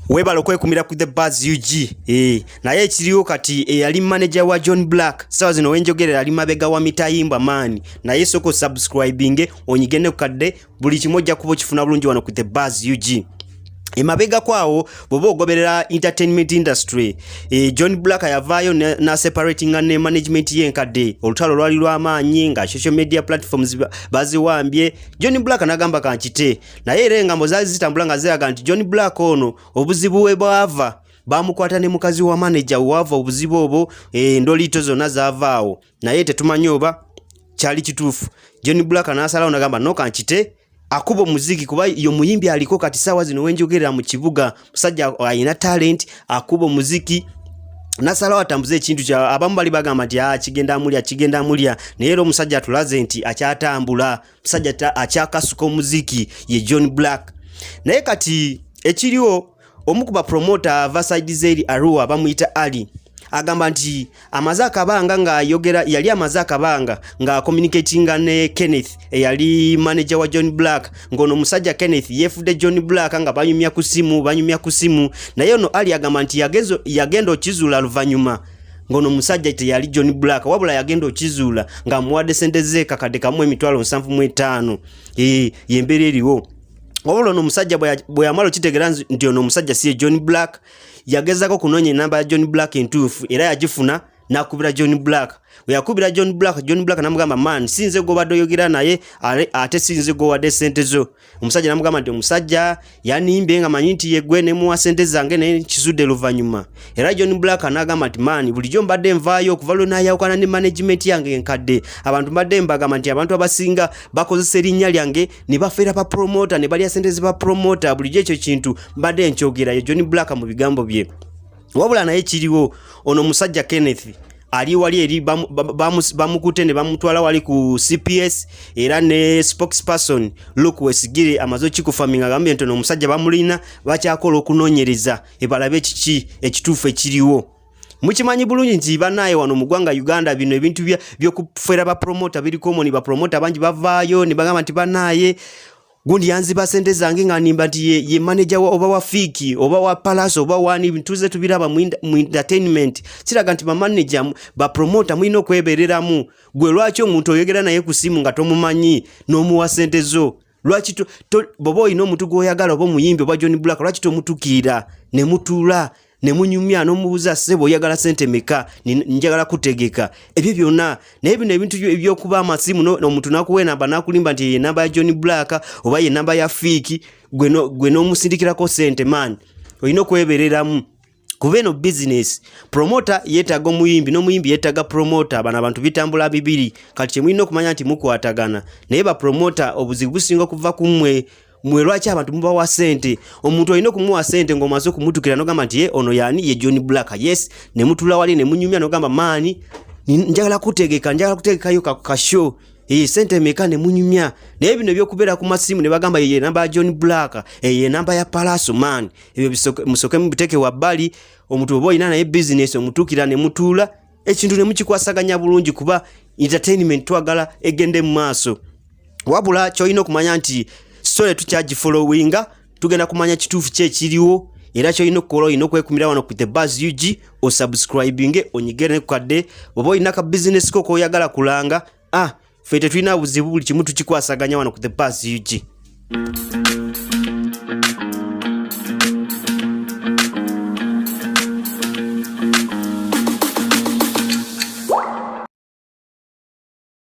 webale okwekumira ku the bas ug eh, naye ekiriwo kati eyali eh, manager wa john black sawa zino wenjogerera ali mabega wa mitayimba maani naye soko subscribinge onyige ne kukadde buli kimu ojja kuba okifuna bulungi wano ku the bas ug emabega kwawo bwoba ogoberera entertainment industry e, john black yavaayo naseparatinga ne management yenkadde olutalo lwali lwamaanyi nga social media platforms baziwambye john black nagamba kankite naye era engambo zaali zitambula nga ziraga nti john black ono obuzibu we bwava bamukwata ne mukazi wa maneja waava obuzibu obwo endoliito zonna zavaawo naye tetumanyi oba kyali kituufu john black n'asalawo nagamba noka nkite akuba omuziki kuba yo muyimbi aliko kati saawa zino wenjogerera mu kibuga musajja alina talenti akuba omuziki nasalawo atambuze ekintu kya abamu bali bagamba nti ah, kigenda amulya kigenda amulya naye era omusajja atulaze nti akyatambula musajja akyakasuka omuziki ye john black naye kati ekiriwo omu ku bapromota ava saidi zeeri arua bamuyita ali agamba nti amaze akabanga ng'ayogera yali amaze akabanga ng'akomunikatinga ne kenneth eyali manaja wa john black ng'ono omusajja kenneth yeefudde john black nga banyumya ku simu banyumya ku simu naye ono ali agamba nti yagenda okizula luvannyuma ngono musajja teyali John Black wabula yagenda okizuula nga muwade sente ze kakade kamu emitwalo 75 eh yembere eriwo wabula ono musajja bwe yamalo kitegera nti ono musajja siye John Black yagezako kunonya enamba ya John Black entuufu era yagifuna nakubira John Black yakubira John Black John Black namugamba man sinze gobadde oyogera naye ate sinze gowade sente zo omusajja namugamba nti omusajja yanimbe nga manyi nti yegwe nemuwa sente zange naye kizudde luvanyuma era john black anagamba nti maani bulijjo mbadde nvaayo okuva lwe nayawukana ne management yange enkadde abantu mbadde mbagamba nti abantu abasinga bakozesa erinnya lyange ne bafeera ba promota ne balya sente zeba promota bulijjo ekyo kintu mbadde nkyogerayo john black mu bigambo bye wabula naye kiriwo ono musajja kenneth ali wali eri bamukute ne bamutwala wali ku CPS era ne spokesperson Luke Wesigire amazo kikufaminga gambye ntono omusajja bamulina bakyakola okunonyereza ebalabe kiki ekituufu ekiriwo mukimanyi bulungi nti banaye wano mu gwanga Uganda bino ebintu byokufera ba promoter biri common ba promoter bangi bavaayo ne bagamba nti banaye gundi yanziba sente zange nga nimba nti ye, ye manager wa oba wa fiki oba wa palace oba wani ntuze tubiraba mu, mu entertainment kiraga nti bamanager bapromota mulina okwebereramu gwe lwaki omuntu oyogera naye ku simu nga tomumanyi n'omuwa sente zo lwaki boba olina omuntu gwoyagala oba omuyimbi oba john black lwaki tomutukiira ne mutuula ne munyumya n'omubuuza ssebo oyagala sente meka njagala kutegeka ebyo byonna naye bino ebintu ebyokuba amasimu omuntu nakuwa enamba nakulimba nti yenamba ya john black oba yenamba ya fiiki gwe n'omusindikirako sente maani olina okwebereramu kuba eno bizinesi promota yeetaaga omuyimbi n'omuyimbi yeetaaga promota bano abantu bitambula bibiri kati kyemulina okumanya nti mukwatagana naye bapromota obuzibu businga okuva ku mmwe mwe lwaki abantu mubawa sente omuntu olina okumuwa sente ng'omaze okumutukira nogamba nti ye eh, ono yani ye john black yes ne mutula wali ne munyumya nogamba maani njagala kutegeka njagala kutegekayo kasho Iyi sente meka ne munyumya naye bino ebyokubera ku masimu ne bagamba yeye namba ya John Black eye namba ya Palaso man ebyo musoke mubiteke wa bali omuntu obo ina naye business omutukira ne mutula ekintu ne mukikwasaganya bulungi kuba entertainment twagala egende mu maaso wabula kyolina okumanya nti story tukyagifollowinga tugenda kumanya kituufu ki ekiriwo era kyolina okukola olina okwekumira wano ku the bas ug osubscribinge onyigerene ku kadde oba olina ka bizinesi ko koyagala kulanga ah ffe tetulina buzibu buli kimu tukikwasaganya wano ku the bas ug